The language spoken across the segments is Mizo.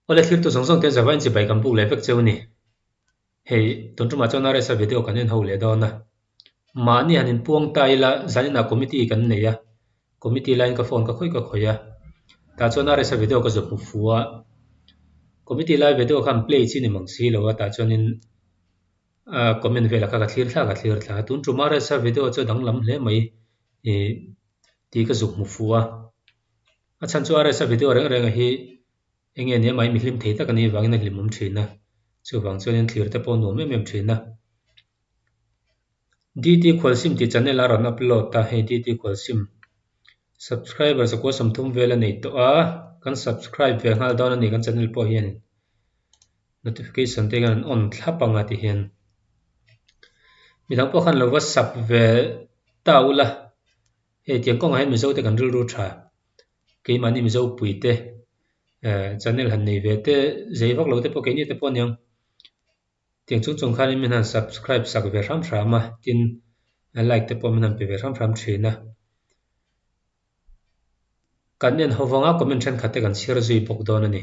Awle thlir tu zawng zawng te Java inchibai kan puk leh vek che u ni. Hei, tun tumah chuan a resa video kan en ho leh dawn a. Mahni han in puang ta ila zan inah committee kan nei a, committee laiin ka phone ka khawih ka khawih a, tah chuan a resa video ka zawp hmu fu a. Committee lai video khan play chi ni mang si lo a, tah chuanin a comment velah kha ka thlir thlak a thlir thla. Tun tuma resa video chu a danglam hle mai ih tih ka zuk hmu fu a. A chhan chu RS-a video reng renga hi enge nia mai mi hlim thei tak a nih vangin a hlimawm thin a, chuvang chuan in thlir te pawh a nuam em em thin a. DT Khual Sim tih channel a rawn upload a, hei DT Khual Sim subscribers a kuasawm thum vel a nei tawh a, kan subscribe ve nghal dawn a ni kan channel pawh hian in, notification te hian an on thlap ang a ti hian. Mi dang pawh khan lo va sub ve ta ula. Hetiang kawngah hian Mizo te kan rilru tha, keimahni Mizo pui te, channel han nei ve te, zei vak lo te pawh keini te pawh aniang, tiang chung chung khan min han subscribe sak ve hram hram a, tin like te pawh min han pe ve hram hram thin a. Kan en ho vang a comment thenkhat te kan share zui bawk dawn a ni.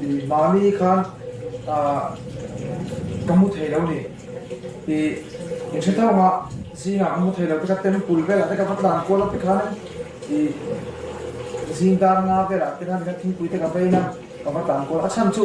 I mahni khan ahh ka hmu thei lo ni i in hre thung a zingah ka hmu thei lo teka temple velah te ka va tlan kual a tikhanin i zing dan nga velah te khan thingpui te ka beina ka va tlan kual a a chhan chu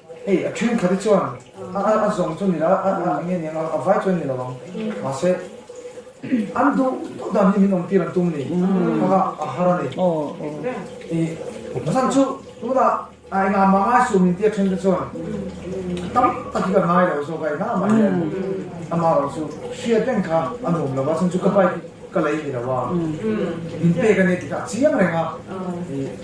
Hei, a ṭhenkhat hi chuan a zawng chu nila a lang eng eng a, a vai chuan nilo ang. Mahse, an duh duh dan hi min awm tir an tum ni? Khava a har a ni. I mahsan chu tunah a eng a mangai sum min ti a ṭhen te chuan tam tak hi ka ngai lo zawk a, engah mah hian amah erawh chu hriat reng kha a nuam lo a, chhung chu ka bike ka lei nilo a, min pek a ni tih kha a chiang reng a.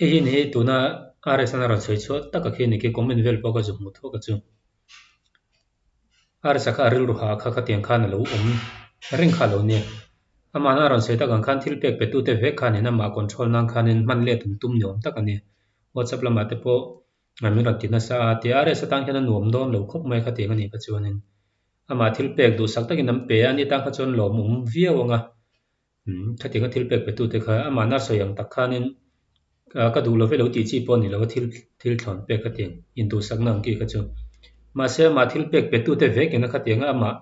Hei hian hi tuna RSN a rawn sawi chhuah taka khi a ni khi comment vel pawh ka zu hmuh thawk a chu. RSA kha a rilru ha a kha khatiang khan a lo awm reng kha a lo nia. Amahna a rawn sawi tak ang khan thil pek petu te vek khan in amah control nan khanin hman let awm tum ni awm tak a ni. WhatsApp lamah te pawh min rawn ti nasa a, tia RSA atang hian a nuam dawn lo khawp mai khatiang a nih kha chuanin amah thil pek duhsak takin an pe a, ani atang kha chuan lawmawm viau anga Khatianga thil pek pe tute kha amahna sawi ang tak khanin ka duh love lo tih chi pawh a ni lo a, thil thil thlawn pek a tiang in duhsakna ang tih kha chu. Mahse amah thil pek pe tute vekina khatianga amah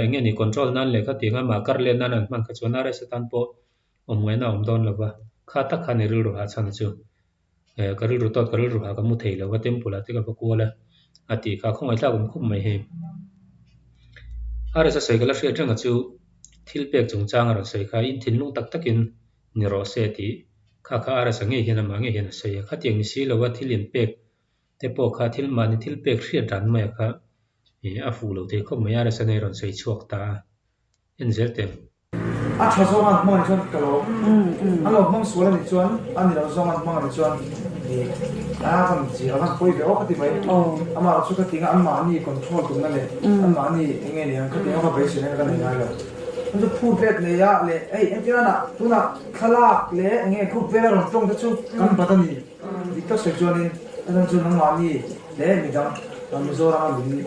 enge ni control nan leh khatianga amah kar let nan an hman kha chuan RSA tan pawh awm ngaihna a awm dawn lova, kha tak kha a ni rilru hah chhan a chu. eh ka rilru tawt ka rilru ha ka hmu thei lo va temple ah te ka va kual a a tih kha a khawngaih tlak awm khawp mai hei a resa sawi ka la hriat reng a chu thil pek chung chang a rawn sawi kha in thinlung tak tak in ni rawh se tih kha kha a resa ngei hian amah ngei hian a sawi a khatiang ni si lo a thil in pek te pawh kha thil mahni thil pek hriat dan mai ah kha eh a fuh lo thei khawp mai a resa nei a rawn sawi chhuak ta a. en zir tel. A tha zawng an hmang ni chuan ka lo an lo hmang sual ani chuan a ni lo zawng an hmang ani chuan a kan zir ang a pawi ve awk a ti mai amah erawh chu ka ti ang a an mahni control tum na leh an mahni enge nih ang kha ti ang a ka beisir na ka nei ngai lo an chu phut let nei a leh ei engtir a na tunah thlalak leh enge group vela rawn tawng te chu kan bat a ni dik tak sawi chuan in a zawng chu nangmahni leh midang Mizoram a min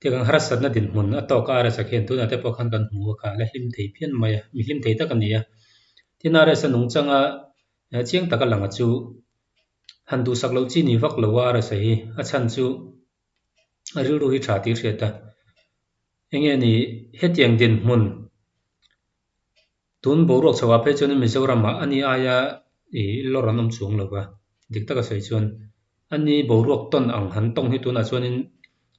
Ti kan harsatna dinhmun a tawka a resa khian tunah te pawh khan kan hmu a kha ala hlim thei phian mai a, mi hlim thei tak a ni a. Tin a resa nung changa chiang taka langa chu han duhsak loh chi ni vak lo a a resa hi a chhan chu a rilru hi tha tih a hriat a. Enge ni hetiang dinhmun. Tun boruak chhoh ah phei chuan Mizoram ah ani aia ih lawr an awm chhung lova, dik taka sawi chuan ani boruak tawn ang han tawng hi tunah chuan in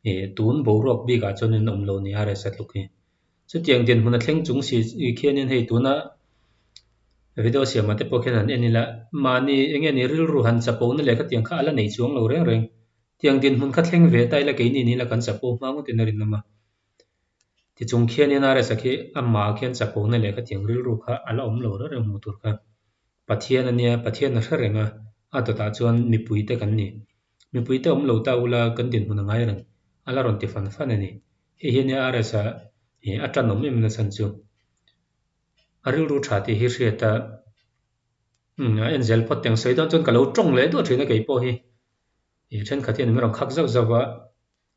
ih tun boruak bik ah chuan in awm lo nia resa tluk hi. Chutiang dian hmuna thleng chung si khian in hei tuna video siam ah te pawh khian han en ila, mahni enge ni rilru han chapo na leh khatiang kha ala nei chuang lo reng reng. Tiang dian hmun kha thleng ve ta ila keini ni ila kan chapo hmang ngawt in a rinawm a. Tichung khian NRS-a khi amah khian chapona leh khatiang rilru kha a la awm lo reuh reuh hmuh tur kha. Pathian a nia, Pathian a hre reng a, a dawtah chuan mipui te kan ni. Mipui te awm lo ta ula kan dinhmun a ngai reng, a la rawn ti fan fan a ni. Hei hi NRS-a ih a tanawm em nachhan chu. A rilru tha tih hi hriat a, umm a en zel phawt teng sawi dawn chuan ka lo tawng leh duah thin a kei pawh hi. Ih thenkhat hian min rawn khak zauh zauh a,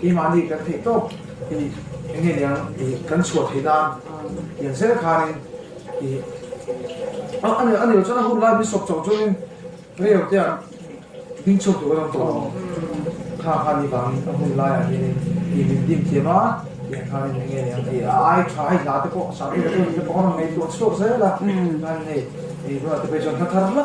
Kei mah ni kan theih tawp i eng nge niang i kan chhuah theih nan lian zel khan in i a a a ni lo chuan a hun lai bishop chauh chuan in riau te an ding chhuak duh alawm tawh ang kha khan ni vang in a hun lai ah hian in i min dim thiam a tiang khan in eng nge niang i a ai tha hei hla te pawh sahpi te pawh an ngaihtuah chhuak zel a khan hei i tunah te pawh hi chuan hla thar hla.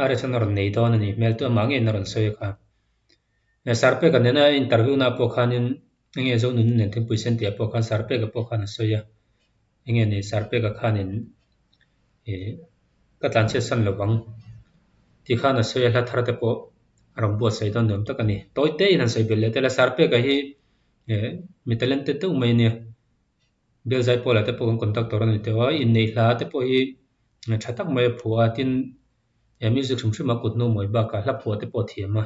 a resa na rawn nei dawn a nih hmel tawh mah nge na rawn sawi a kha. Sarpek a nena interview na pawh khanin enge Zonunu nen thingpui sen tih a pawh khan Sarpek a pawh khan a sawi a, enge ni Sarpek a khanin ih ka tlanchhiat san lo vang tih khan a sawi a, hla thar te pawh a rawn buatsaih dawn ni awm tak a ni. Tawite in han sawi belh leh tel a, Sarpek a hi mi talented deuh mai a nia. Belzai Paula te pawhin conductor a ni teuh a, innei hla te pawh hi tha tak mai a phuah a, tin e music hrim hrim a kut hnu mawi bakah hla phuah te pawh a thiam a.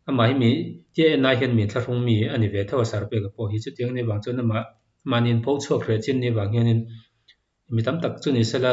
Amah hi mi tia en lai hian min thlahrung mi a ni ve tho a Sarpeka pawh hi, chutiang ni avang chuan amah mahni in pho chhuak hreh chin ni avang hianin mi tam tak chu ni sela,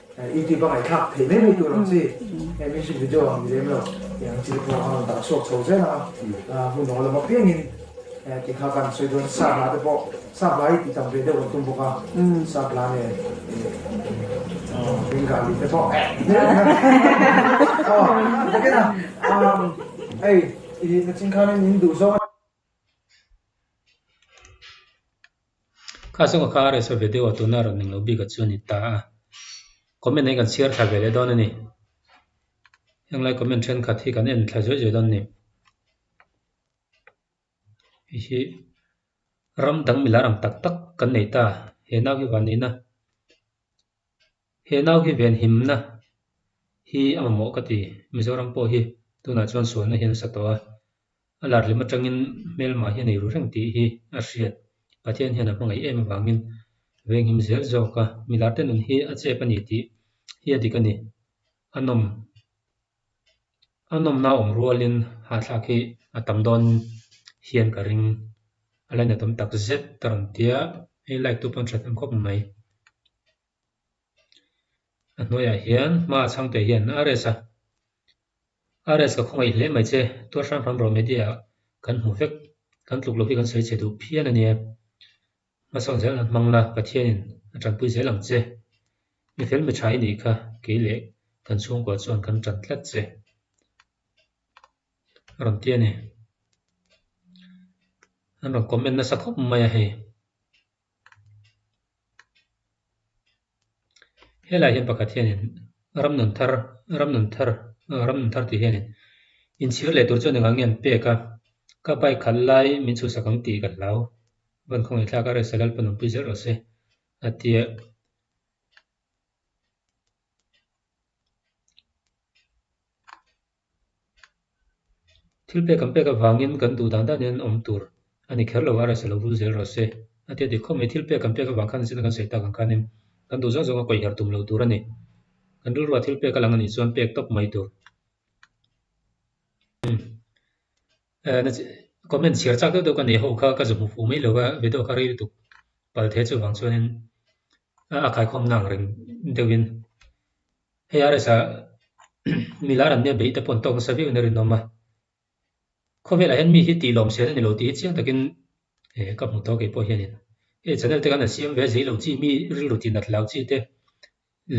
Youtube a ngaithlak thei mai mai tur ang chi he music video ang ni lem lo tih ang chi te pawh a rawn dah chhuak chho zel ang a hmu nawl a mapiangin ti kha kan sawi dawn sa hla te pawh sa hla hi tih tam ve deuh kan tum bawk a sa hla nen bengali te pawh ei i na ching khan in duh zawk a ni. Kha chunga kha Resa ve deuh a tuna a rawn ning lo bik a chu a ni ta a. Comment hi kan share thla ve leh dawn a ni. Heng lai comment thenkhat hi kan en thla zawih zawih dawn a ni. Hei hi ram dang milar ang tak tak kan nei ta a. He nau hi van ina he nau hi ven him na hi a mamawh ka ti. Mizoram pawh hi tunah chuan sualna hi an sa tawh a. A larlem atangin hmelmai hi a nei ru reng tih hi a hriat. Pathian hian a hmangaih em avangin veng him zel zawka mi larte nun hi a chep a ni tih hi a dik a ni. A nawm a nawmna awm rualin hahthlak hi a tam dawnin hian ka ring a laina tam tak zet ka rawn tia hei like tu pawh an that em khawp mai. A hnuaiah hian hma a chhangte hian a rest a, a rest ka khawngaih hle mai che, Tuar Hrang Hrang Bro Media ah kan hmu vek, kan tluk lo hi kan sawi che duh phian a nia, hmasak zel an hmang la, Pathianin a tanpui zel ang che, mi fel mi tha i nih kha kei leh kan chhungkua chuan kan tan tlat che, a rawn ti a ni, an rawn comment nasa khawp mai a hei. Helaiah hian pakhat hianin ram nun thar ram nun thar ram nun thar tih hianin inchhir leh tur chuan engah nge an pek a ka bike khalh lai min chhuhsak ang tih ka hlau vankhawngin thlak a resa lal pawn awmpui zel rawh se a tia Thil pek an pek avangin kan duh dan dan in an awm tur a ni kher lo a, reselo vul zel rawh se. A ti a ti khawp mai, thil pek an pek avang khan zin kan sawi tak ang khanin kan duh zawng zawng a kawih herh tum lo tur a ni. Kan rilruah thil pek a lang a nih chuan pek tawp mai tur. Comment chhiar chak deuh deuh ka nei ho kha ka za hmu fuh mai lo a, video ka rei lutuk pal thei chu vang chuan in a khai khawmna ang reng deuh in. Hei a resa milar an nep daihte pawn tawk nasa viau in a rinawm a. Khawvelah hian mi hi tihlawm sel a ni lo tih hi chiang takin ka hmu tawh a, keipawh hianin hei channel te kan han siam ve a, zui lo chi mi rilru tih natloh chi te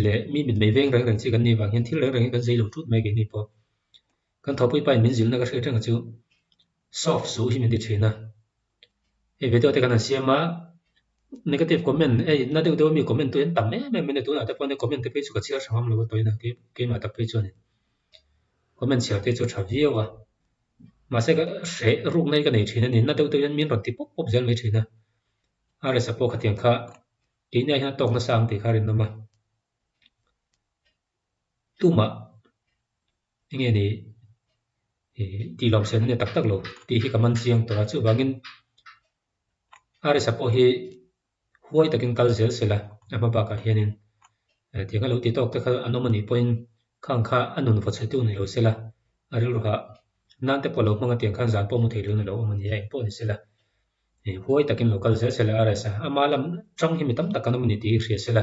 leh mi mitmei veng reng reng chi kan nih vang hian thil reng reng hi kan zui lo ṭut mai keini pawh. Kan thawhpui pain min zirna ka hriat reng a chu soft suh hi min ti ṭhin a. hei video te kan han siam a negative comment ei na deuh deuh ami comment tu en tam em em mai nge tunah te pawh comment te phei chu ka chhiar tha ngam lo a tawi na kei keimah tak phei chuan comment chhiar te chu a tha viau a mahse ka hreh ruk nai ka nei thin a ni na deuh deuh hian min rawn ti pawp pawp zel mai thin a rsa pawh khatiang kha keini ah hian tawk nasa ang tih kha a rinawm a. tlumah enge ni tih lo siam nge tak tak lo tih hi ka man chiang tawh a chuvangin arsa pawh hi huai takin kal zel se la a hma bakah hianin tianga lo ti tawk te kha an awm anih pawhin khang kha a nun vawt chhutu ni lo se la a rilru ha nan te pawh lo hmang atiang khan zan pawh mu thei lo ni lo awm ania eng pawh ni se la huai takin lo kal zel se la arsa ama lam chang hi mi tam tak kan awm ani tih hi hria se la